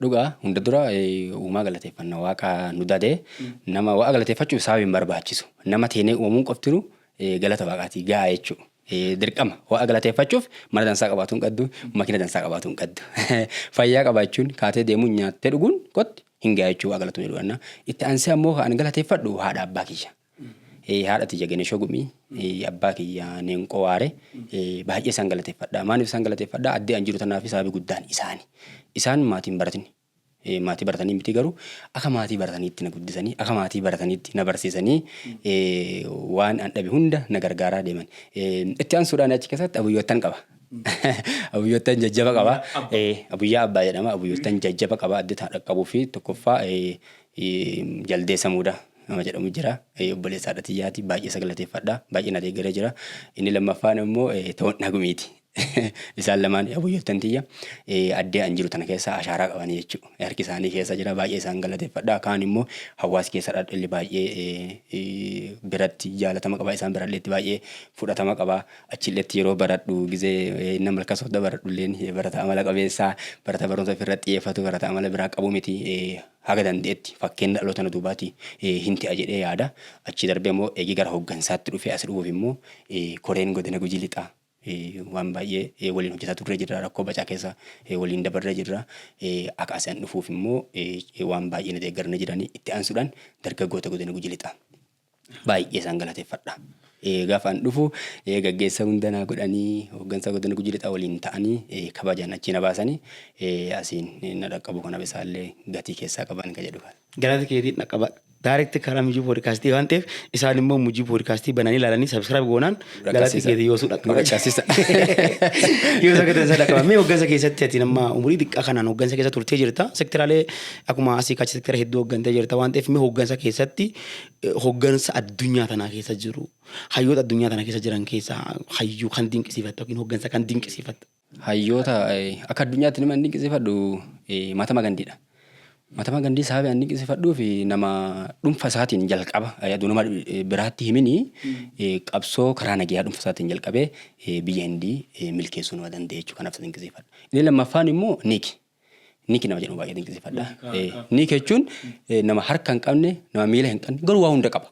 Dhuga hunda dura uumaa galateeffanna waaqa nu dade nama waaqa galateeffachuuf sababi hin barbaachisu nama teenee uumamuun qoftinu galata waaqaati ga'a jechuudha. Dirqama waaqa galateeffachuuf mana dansaa qabaatu hin qaddu makina dansaa qabaatu hin qaddu fayyaa qabaachuun kaatee deemuun nyaattee dhuguun qotti hin ga'a jechuudha waaqa galatoomee dhuganna itti aansee ammoo kan galateeffadhu haadha abbaa kiyya. haadha tiyya Genesho Gumii, abbaa kiyya Neenqoo Waare baay'ee isaan galateeffadha. Maaliif isaan galateeffadha? Addee an jiru tanaaf sababi guddaan isaani. Isaan maatii hin baratini. Maatii baratanii miti garuu akka maatii barataniitti na guddisanii akka maatii barataniitti na barsiisanii waan an dhabe hunda na gargaaraa deeman. Itti aansuudhaan achi keessatti abuyyoottan qaba. Abuyyoottan jajjaba qaba. Abuyyaa abbaa jedhama. Abuyyoottan jajjaba qaba. Addee tana dhaqqabuu fi tokkoffaa jaldeessa muudaa. nama jedhamu jira. Eh, Obboleessa haadha tiyyaati. Baay'ee isa galateeffadha. Baay'ee na deeggaree jira. Inni lammaffaan immoo eh, Toon Nagumiiti. Isaan lamaan abuyyoottan tiyya eh, addee an jiru tana keessa ashaaraa qabanii jechuudha. Harki isaanii keessa jira. Baay'ee isaan galateeffadha. Kaan immoo hawaasi keessa dhadhalli baay'ee eh, eh, biratti jaalatama qaba. Isaan biralleetti baay'ee fudhatama qaba. Achilleetti yeroo baradhu gizee eh, nama malkaa soodda baradhu illeen eh, barata amala qabeessa, barata barumsa ofirratti xiyyeeffatu, barata amala biraa qabu miti. Eh, haga dande'etti fakkeenna dhaloota na duubaati hin te'a jedhee yaada. Achii darbee immoo eegii gara hoggansaatti dhufee as dhufuuf immoo koreen godina Gujii Lixaa waan baay'ee waliin hojjetaa turree jirra. Rakkoo bacaa keessa waliin dabarree jirra. Akka as an dhufuuf immoo waan baay'ee na deeggaranii jiranii. Itti aansuudhaan dargaggoota godina Gujii Lixaa. baay'ee isaan galateeffadha. Gaafaan dhufu gaggeessa hunda naa godhanii hooggansa godina gujii lixaa waliin ta'anii kabajaan achii na baasanii asiin na dhaqqabu kanaaf isaallee gatii keessaa qaban kan jedhu kana. Galata keetiin dhaqqaba. Daarekti karaa mijuu poodkaastii waan ta'eef isaan immoo mijuu poodkaastii bananii ilaalanii sabiskiraayib goonaan galati keetii yoosuu dhaqqaba. Yoo isa gatansa dhaqqaba. Mee hooggansa keessatti ati nama umurii xiqqaa kanaan hooggansa keessa turtee jirta. Sektiraalee akkuma asii kachi sektira hedduu hooggantee jirta waan ta'eef mee hooggansa keessatti hoggansa addunyaa tanaa keessa jiru hayyoota addunyaa tana keessa jiran keessaa hayyuu kan dinqisiifatta yookiin hoggansa kan dinqisiifatta? Hayyoota akka addunyaatti nama dinqisiifadhu Mahatma Gandhiidha. Mahatma Gandhii sababi an dinqisiifadhuuf nama dhuunfa isaatiin jalqaba aduu nama biraatti himini qabsoo karaa nagayaa dhuunfa isaatiin jalqabee biyya Hindii milkeessuu nama danda'e jechuudha kanaaf isa dinqisiifadha. Inni lammaffaan immoo Niiki. Niki nama jedhamu baay'ee dinqisiifadha. Niki jechuun nama harka hin qabne, nama miila hin qabne, garuu waa hunda qaba.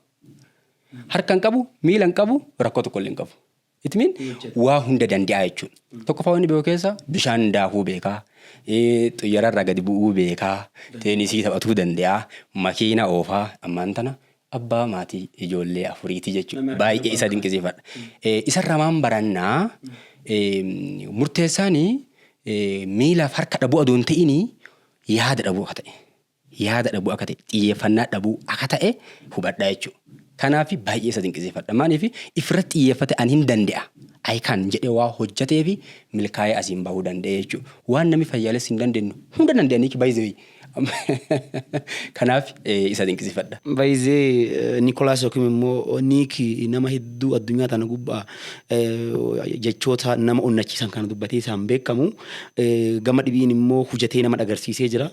Harka hin qabu, miila hin qabu, rakkoo tokko illee hin qabu. Itmiin waa hunda danda'a jechuudha. Tokkoffaa wanni beeku keessa bishaan daakuu beekaa, xiyyaararraa gadi bu'uu beekaa, teenisii taphatuu danda'a, makiina oofaa ammaan tana Abbaa maatii ijoollee afuriiti jechuun baay'ee isa dinqisiifadha. Isarraa maan baranna murteessaan miilaaf harka dhabuu adoo hin ta'in yaada dhabuu akka ta'e yaada dhabuu akka ta'e xiyyeeffannaa dhabuu akka ta'e hubadhaa jechuudha. Kanaaf baay'ee isa dinqisiifadha. Maaliif ifirratti xiyyeeffate ani hin danda'a. I can jedhee waa hojjetee fi milkaa'ee asiin bahuu danda'e jechuudha. Waan namni fayyaalessi hin dandeenye hunda danda'anii baay'ee Kanaaf isa dinqisifadha. By the Nicholas yookiin immoo Nick nama hedduu addunyaa tana gubbaa jechoota nama onnachiisan kana dubbatee isaan beekamu. Gama dhibiin immoo hujatee nama dhagarsiisee jira.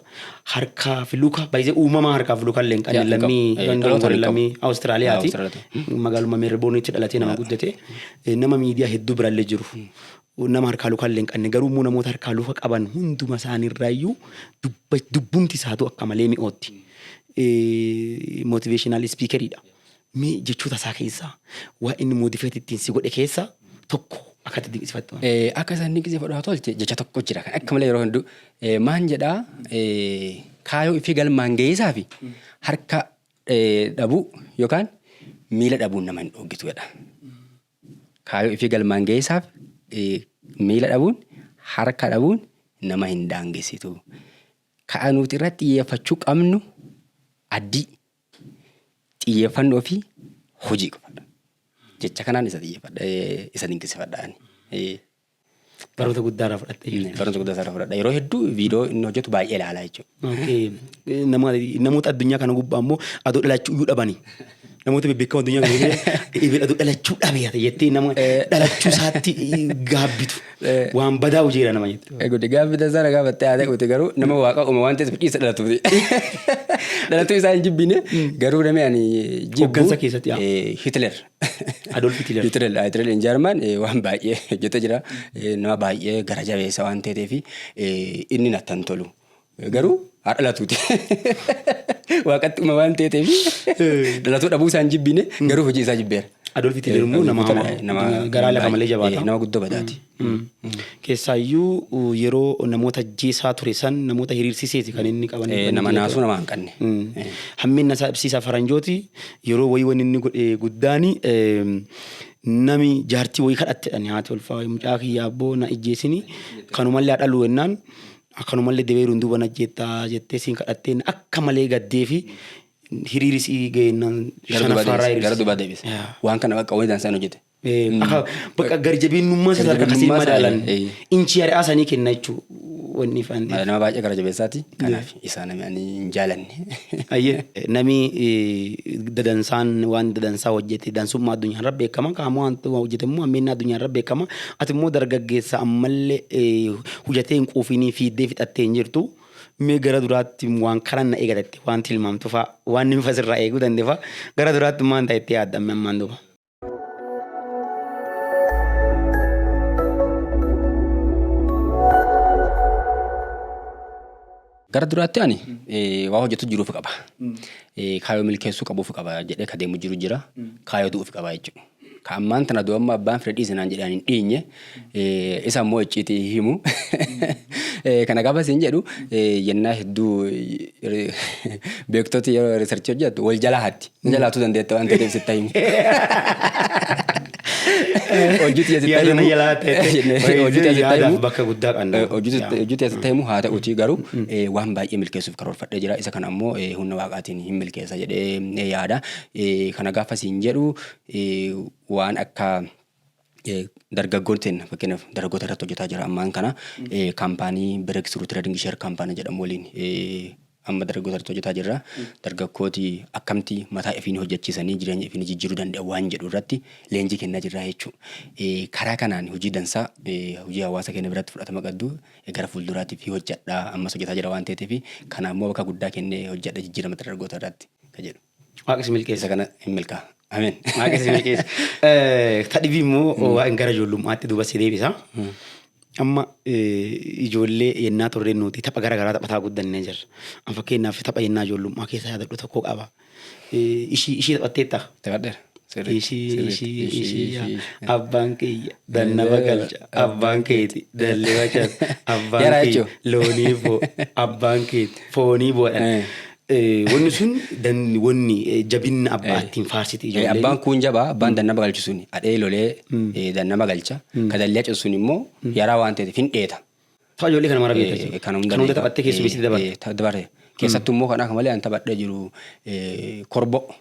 Harkaa fi luka by the uumamaa harkaa fi luka illee hin qabne lammii London kan lammii Awustiraaliyaati. Magaaluma Meeriboonitti dhalatee nama guddate. Nama miidiyaa hedduu birallee jiru. Yoo nama harkaa luka illee hin qanne, garuu immoo namoota harkaa luka qaban hunduma isaanii irraa iyyuu dubba, dubbumti isaatuu akka malee mi'ootti. Motivational speaker dha. Mee jechoota isaa keessaa waa inni motivate ittiin si godhe keessaa tokko akka itti dinqisifattu. Eh, Akka isaan dinqisiifadhu haa tolche jecha tokko jira kan akka malee yeroo hunduu eh, maan jedhaa eh, kaayoo ifii galmaan ga'iisaa fi harka eh, dhabuu yookaan miila dhabuun nama hin dhooggitu jedha. Kaayoo ifii galmaan geessaaf miila dhabuun, harka dhabuun nama hin daangessitu. Ka'a nuti irratti xiyyeeffachuu qabnu addii xiyyeeffannoo fi hojii qofadha. Jecha kanaan isa xiyyeeffadha, isa dinqisifadha. Baroota guddaa irraa fudhatte jechuudha. Baroota guddaa irraa fudhadha. Yeroo hedduu viidiyoo inni hojjetu baay'ee ilaalaa jechuudha. Namoota addunyaa kana gubbaa immoo aduu dhalachuu iyyuu dhabanii. Namoota bebbeekamoo addunyaa kana gubbaa ibin aduu dhalachuu dhabeera jettee nama dhalachuu isaatti gaabbitu. Waan badaa hojiira nama jette. Egude gaaffi tasaa nagaa battee haa ta'uuti garuu nama waaqa uuma waan ta'eef dhiisa dhalatuuti. Dhalatuu isaa hin jibbine garuu namni ani jibbu. Hoggansa keessatti, yaa. Hitler. Adolf Hitler. Hitler ah, Hitler in German eh, waan baay'ee hojjete jira. Eh, Nama baay'ee gara jabeessa waan ta'eef eh, inni natti hin tolu. Eh, Garuu haa dhalatuuti. Waaqatti uma waan ta'eef dhalatuu dhabuu isaa hin jibbiine garuu hojii isaa jibbeera. Adolf Hitler immoo Eh, nama Hitler, hamaa, eh, garaa lafa malee jabaata. eh, Nama guddoo badaati. Keessaayyuu yeroo namoota ajjeesaa ture san namoota hiriirsiseeti kan inni qaban. Eh, nama naasuu nama hanqanne. Eh. Hamminna isaa ibsiisa faranjooti yeroo wayii wanni inni godhe guddaani eem, nami jaartii wayii kadhattedhan haati ulfaa wayii mucaa kiyya abboo na ijjeesini kanumallee haa dhaluu jennaan akkanumallee debeeruun duuba na ajjeettaa jettee siin kadhattee inni akka malee gaddee fi hiriirisii ga'eennaan Gara duuba shanaffaa irraa deebise. Gara hiriirsise. duuba deebise. Yaa. Waan kana bakka wayii dansaa hin hojjete. Aha, Bakka garjabeennummaa isaa sadarkaa akkasiin Garjabeennummaa isaa, madaalan eh, eh. inchii ari'aa sanii kenna jechuu wanni ifaan ta'e. Nama baay'ee gara jabeessaati. Kanaaf isaa namni ani hin jaalanne. Ayyee nami eh, dadansaan waan dadansaa hojjete dansummaa addunyaa irra beekama qaama waan hojjete immoo hammeenna addunyaa irra beekama ati immoo dargaggeessa ammallee eh, hojjetee hin quufinii fiiddee fixattee hin jirtu mee gara duraatti waan karan na eegatetti waan tilmaamtu fa'a waan inni fasirraa eeguu danda'e fa'a gara duraatti maan ta'etti yaadda ammaan duuba. Gara duraatti ani waa hojjetu jiruuf qaba. Kaayoo milkeessuu qabuuf qaba jedhee ka deemu jiru jira. Kaayoo du'uuf qaba jechuudha. Ka ammaan tana du'amma abbaan fedhe dhiise naan jedhee ani hin dhiinye Eh, isa immoo icciitii hin himu. Eh, kana gaafa siin jedhu eh, yennaa hedduu eh, beektoti yeroo riisarchii hojjettu wal jalaa hatti. Ni jalaatuu dandeetta waan ta'eef sitta himu. Hojii tiyya sitta Yaada himu. na jalaa ta'e, ta'e. Jennee, Baay'ee hojii tiyya sitta yaadaaf himu. bakka guddaa qabna. Eh, hojii sitta- Yaa. hojii tiyya sitta himu haa ta'uutii garuu eh, waan baay'ee milkeessuuf karoorfadhee jira. Isa kana immoo eh, humna waaqaatiin hin milkeessa jedhee eh, yaada. Eh, Kana gaafa siin jedhu eh, waan akka dargaggoon seenna fakkeenyaaf dargaggoota irratti hojjetaa jira ammaan kana kaampaanii Break Through Trading Share Company jedhamu waliin amma dargaggoota irratti hojjetaa jirra. Dargaggooti akkamti mataa ifiin hojjechiisanii jireenya ifiin jijjiiruu danda'u waan jedhu irratti leenjii kennaa jirra jechuudha. Karaa kanaan hojii dansaa hojii hawaasa keenya biratti fudhatama qabdu gara fuulduraatti fi hojjedha ammas hojjetaa jira waan ta'eef kanaammoo bakka guddaa kennee hojjedha jijjiirama dargaggoota irratti kan jedhu. Waaqa si milkeessa kana hin milkaa. Ameen. Waaqa si milkeessa. Eh, Ta dhibii immoo hmm. waan gara ijoollummaatti duuba si deebisa. Hmm. Amma eh, ijoollee yennaa turreen nuti tapha gara garaa taphataa guddannee jirra. An fakkeenyaaf tapha yennaa ijoollummaa keessa yaadadhu tokko qaba. Eh, ishii ishii taphatteetta. Taphadheera. abbaan kiyya dannaba galcha abbaan keeti dalliba chat abbaan kiyya loonii boo abbaan keeti foonii boodhan Eh, Wanni sun dan- wanni eh, jabinna abbaa Eh. ittiin faarsiti Eh, ijoolleen. Abbaan kuun jabaa abbaan dannaba galchu suni adhee lolee eh, dannaba galcha ka dallee cisu sun immoo yaraa waan ta'eef hin dheeta. Tapha ijoollee kana mara beekta Eh, jechuudha. kan hunda Kan hunda beeka. taphattee keessummeessitee Eh, dabarte. eh, ta- dabarte. Keessattuu immoo kan akka malee an taphadhee jiru eh, korboo.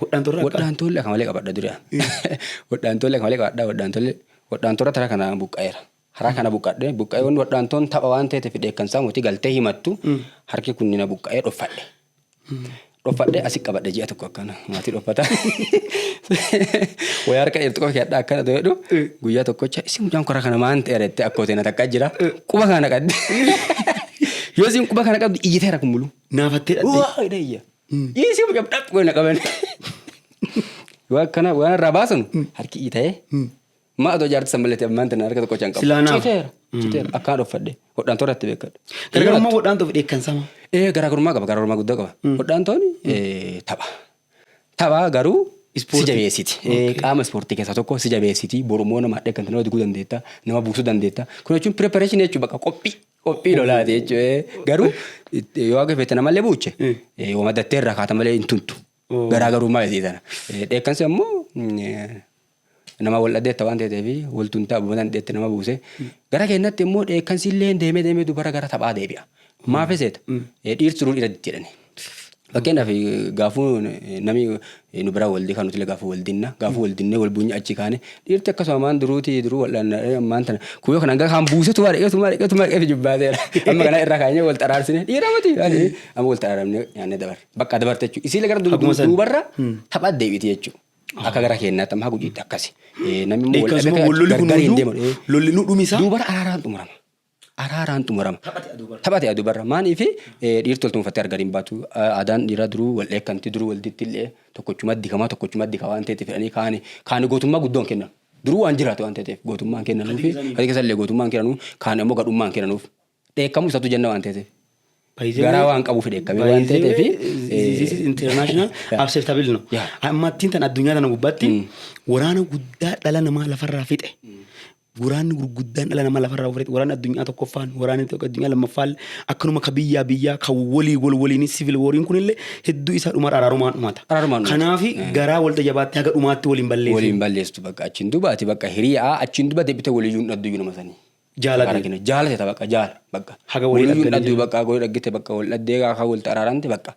Wodhaantorra akka. Wodhaantoolli akka malee qabadha dura. Wodhaantoolli akka malee qabadha wodhaantoolli wodhaantorra tara kana buqqa'eera. Haraa kana buqqadhe buqqa'ee wanni wodhaantoon tapha waan ta'eef dheekkansaa mootii galtee himattu harki kunni na buqqa'ee dhoffadhe. Dhoffadhe asi qabadhe ji'a tokko akkana maatii dhoffata. Wayyaa harka dheertu qofa keedhaa akkana ta'e jedhu guyyaa tokkocha isin mucaan kora kana maan ta'e jettee akkootiin na takkaa jira quba kana qabdi. Yoo isin quba kana qabdi iyyiteera kun muluu. Naafattee dhadhee. Waa hidha iyya. Dhiisii mucaa dhaqxu goona qaban. Waan kana waan irraa baasan harki dhiita'ee. Maa otoo ijaartu san balleetti ammaan tana harka tokko chan qabu. Silaa naaf. Citeera. Citeera. Akkaan dhoffadhe. Hodhaan toora itti beekadhe. Gargarummaa hodhaan ta'uuf dheekkansama. Ee garaagarummaa qaba garaagarummaa guddaa qaba. Hodhaan tooni ee, tapha. Tapha garuu si Ispoortii. jabeessiti. Ee, Qaama ispoortii keessaa tokko si jabeessiti. Borummoo nama hadhee kan nama diguu dandeetta. Nama buusuu dandeetta. Kun jechuun preparation jechuudha bakka qophii. Qophii lolaati jechuudha. Garuu yoo akka feete namallee buuche yoo maddattee irraa kaata malee hin tuntu. Garaagarummaa isii sana. Dheekkansi ammoo nama wal dhadeetta waan ta'eef wal tuntaa boodan dheetti nama buuse. Gara keenyatti immoo dheekkansi illee deemee deemee dubara gara taphaa deebi'a. Maaf seeta? Dhiirti duruu dhiira ditti jedhani. Fakkeenyaaf gaafuu namni nu biraa waldee kan nuti gaafuu waldinna gaafuu waldinnee wal buunyi achi kaane dhiirti akkasuma maan duruuti duruu wal'aanna maan tana kuuyoo kana hanga kaan buusetu maa dhaqeetu maa dhaqeetu maa dhaqeetu jibbaateera amma kana irraa kaanyee wal xaraarsine dhiira mati amma wal xaraaramne nyaannee dabarre bakka dabarte jechuudha isiilee gara duubarra taphaa deebiiti jechuudha. Akka gara keenyaatti amma haguugiitti akkasi. Namni immoo wal dhabee gargar hin deemu. Lolli nu dhumisa. Duubara araaraan xumurama. araaraan xumurama. Taphate aduu barra. Maaliif dhiirti wal tuunfattee argan hin baatu. Aadaan dhiiraa duruu wal dheekkanti duruu wal ditti illee tokkochuma dikamaa tokkochuma dika waan ta'eef fedhanii kaani kaani gootummaa guddoon kennan. Duruu waan jiraate waan ta'eef gootummaan kennanuu fi kan keessa illee gootummaan kennanuu kaan immoo gadhummaan kennanuuf dheekkamuu isaatu jenna waan ta'eef. Garaa waan qabuuf dheekkamee waan ta'eef. This is international acceptable no. Ammattiin tan addunyaa tana gubbaatti waraana guddaa dhala namaa lafarraa fixe. Woraanni gurguddaan dhala namaa lafarraa ofirratti woraanni addunyaa tokkoffaan woraanni addunyaa lammaffaan akkanuma ka biyyaa biyyaa ka wolii wol woliin sivil wooriin kunillee hedduu isaa dhumarra araarumaan dhumata. Araarumaan dhumata. Kanaafi eh. garaa wol tajabaattee haga dhumaatti woliin balleessi. Woliin balleessitu bakka achiin duba ati bakka hiriyaa achiin duba deebite woliyyuun dhadduyyu nama sanii. Jaalate. Jaalate bakka jaala bakka. Haga wolii dhagganii. Woliyyuun dhadduyyu bakka woli dhaggite bakka wol dhaddee kaa wol araaramte bakka.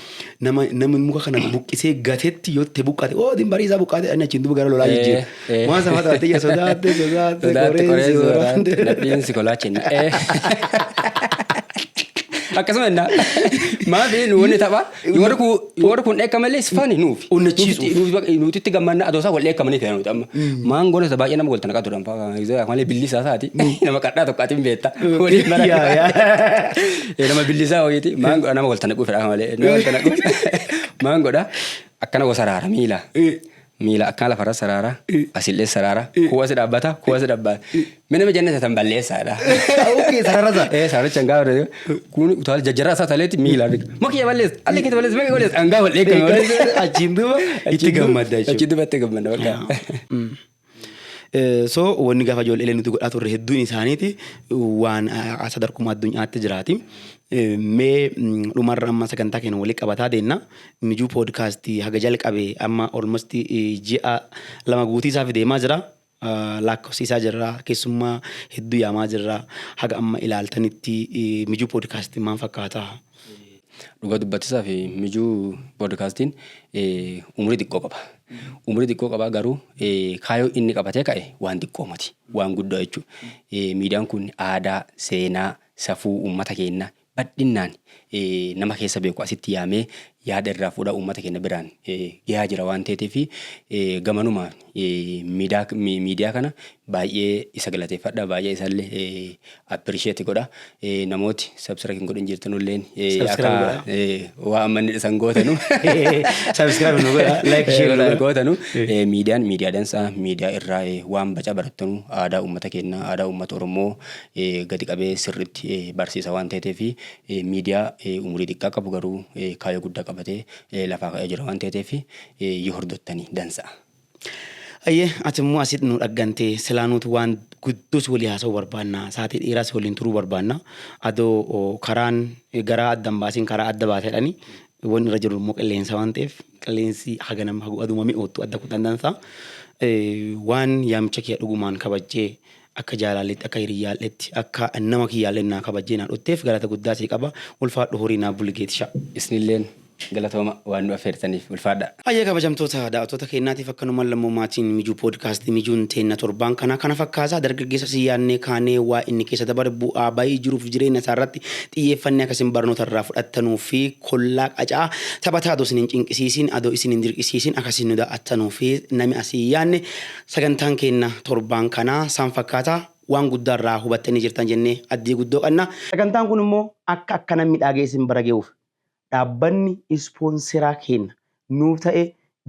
Nama namni muka kana buqqisee gatetti yoo ta'e buqqate oo din barii isaa buqqate ani achiin duuba gara lolaa Eh, jijjiira. eh. Waan sana fakkaate ija sodaatte sodaatte Sodaatte qoreensi qoreensi waraante. waraante. Nadhiin si kolaache hin dha'e. Akkasuma innaa. Maaf inni wanni tapha. Warri kun warri kun dheekka malee sifaani nuuf. Onnachiisuuf. Nuti itti gammanna adoosaa wal dheekkamanii ta'e nuti amma. Maangoon isa baay'ee nama wal tanaqaa turan. Malee billisaa isaati nama kadhaa tokko atiin beekta. Waliin bara. Yaa, yaa. Eh, Nama billisaa ho'iiti maan godha nama walta naquu fedhaa malee nama walta naquu maan godha akkana wa saraara miila. Miila akkana lafarra saraara asillee saraara kuwasi dhaabbata kuwasi dhaabbata. Mee nama jennata tan balleessaadha. Okay, sarara isaa. Eh, sararicha hangaa warra kun utaal jajjaraa isaa taleetti miila. Makiyya balleessa allee keessa balleessa makiyya balleessa hangaa wal eeggame. Achiin duuba itti gammadda jechuudha. Achiin duuba itti gammadda bakka. So wanni gafa ijoollee nuti godhaa turre hedduun isaaniiti waan sadarkuma addunyaatti jiraati. Mee dhumarra amma sagantaa keenya walitti qabataa deemna. Mijuu poodkaastii haga jalqabe amma olmosti ji'a lama guutii isaaf deemaa jira. Laakkofsiisaa jirra keessummaa hedduu yaamaa jirra haga amma ilaaltanitti mijuu poodkaastii maal fakkaata? Dhugaa dubbachuudhaaf mijuu poodkaastiin umurii xiqqoo qaba. Umurii xiqqoo qaba garuu kaayyoo inni qabatee ka'e waan xiqqoo miti. Waan guddaa jechuudha. Miidiyaan kun aadaa, seenaa, safuu uummata keenya bal'inaan nama keessa beeku asitti yaamee yaada irraa fuudhaa uummata keenya biraan gahaa jira waan ta'eef gamanumaan miidaa miidiyaa kana baay'ee isa galateeffadha baay'ee isallee appreciate godha namooti subscribe hin godhin jirtan illeen akka waa amma inni dhisan gootanu subscribe nu godha like share nu gootanu miidiyaan miidiyaa dansaa miidiyaa irraa waan baca barattanu aadaa uummata keenyaa aadaa uummata oromoo gadi qabee sirritti barsiisa waan ta'eef fi miidiyaa umurii xiqqaa qabu garuu kaayoo guddaa qabatee lafaa ka'ee jira waan ta'eef yoo hordottani dansa'a. Hayyee ati immoo asit nu dhaggante silaa nuuti waan guddoos walii haasa'uu barbaanna saatii dheeraas waliin turuu barbaanna adoo karaan garaa adda hin baasiin karaa adda baatedhani wanni irra jiru immoo qilleensa waan ta'eef qilleensi haganam aduma mi'oottu adda kutan dansaa waan yaamicha kiyya dhugumaan kabajjee akka jaalaalletti akka hiriyyaalletti akka nama kiyyaallee naa kabajjee naa dhutteef galata guddaa sii qaba ulfaadhu horii naa bulgeetisha. Isinilleen Galatooma waan nu affeertaniif. Ulfaadhaa. Hayyee kabajamtoota daawattoota keenyaatiif akkanumaan lammoo maatiin Mijuu Podcast Mijuun teenna torbaan kanaa kana fakkaasa dargaggeessa isin yaadnee kaanee waa inni keessa dabare bu'aa bayii jiruuf jireenya isaa irratti xiyyeeffannee akka isin barnoota irraa fudhattanuu fi kollaa qaca'aa taphataa adoo isin hin cinqisiisiin adoo isin hin dirqisiisiin akka isin nu daaw'attanuu fi nami asii yaadne sagantaan keenna torbaan kanaa saan fakkaata waan guddaa irraa hubattanii jirtan jennee addii guddoo qanna. Sagantaan kun immoo akka akkanan midhaagee isin bira ge'uuf Dhaabbanni ispoonseraa keenna nuuf ta'e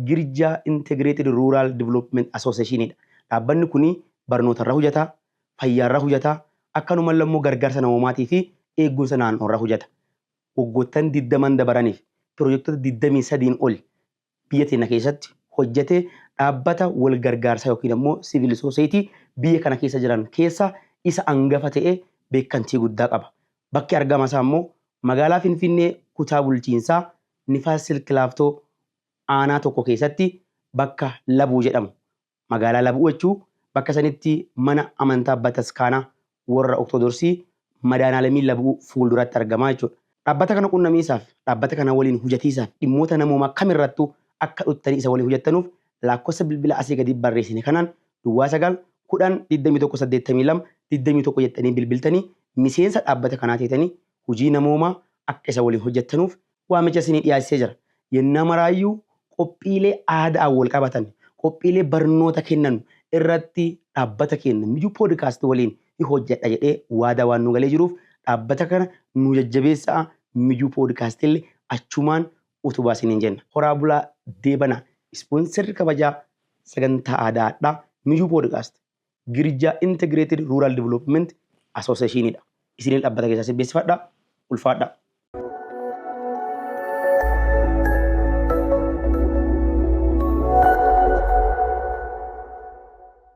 Girjaa Integrated Rural Development Association dha. Dhaabbanni kun barnoota irra hojata, fayyaa irra hojata, akkanumalle ammoo gargaarsa namoomaatii fi eegumsa naan'oo irra hojata. Waggoottan 20n dabaraniif pirojektota 23n oli biyya teenna keessatti hojjate dhaabbata wal gargaarsaa yookiin ammoo siivil sooseeyitii biyya kana keessa jiran keessa isa angafa ta'ee beekkantii guddaa qaba. Bakki argama isaa ammoo magaalaa Finfinnee kutaa bulchiinsaa Nifaas Silk Laaftoo aanaa tokko keessatti bakka Labuu jedhamu Magaalaa Lab Uwachuu bakka sanitti mana amantaa Bataskaana worra Oktodorsii Madaanaalamii Lab U fuulduratti argama jechuudha. Dhaabbata kana qunnamiisaaf, dhaabbata kana waliin hujatiisaaf dhimmoota namoomaa kam irrattuu akka dhuttanii isa waliin hujattanuuf laakkossa bilbila asii gadiit barreessine kanaan duwwaa 9 10 21 82 21 jettanii bilbiltanii miseensa dhaabbata kanaa teetanii hujii namoomaa akka isa waliin hojjattanuuf waamicha isinii dhiyaachisee jira. Yennaa maraayyuu qophiilee aada'aan wol qabatan, qophiilee barnoota kennanu irratti dhaabbata keenna Mijuu Podcast woliin hin hojjadha jedhee waadaa waan nuu galee jiruuf dhaabbata kana nuu jajjabeessa'a Mijuu Podcastille achumaan utubaa isiniin jenna. Horaa bulaa deebanaa! Ispoonserri kabajaa sagantaa aadaa hadhaa Mijuu Podcast. Girjaa Integrated Rural Development Association dha. Isinil dhabbata keessaa sin beeksifadha. Ulfaadhaa.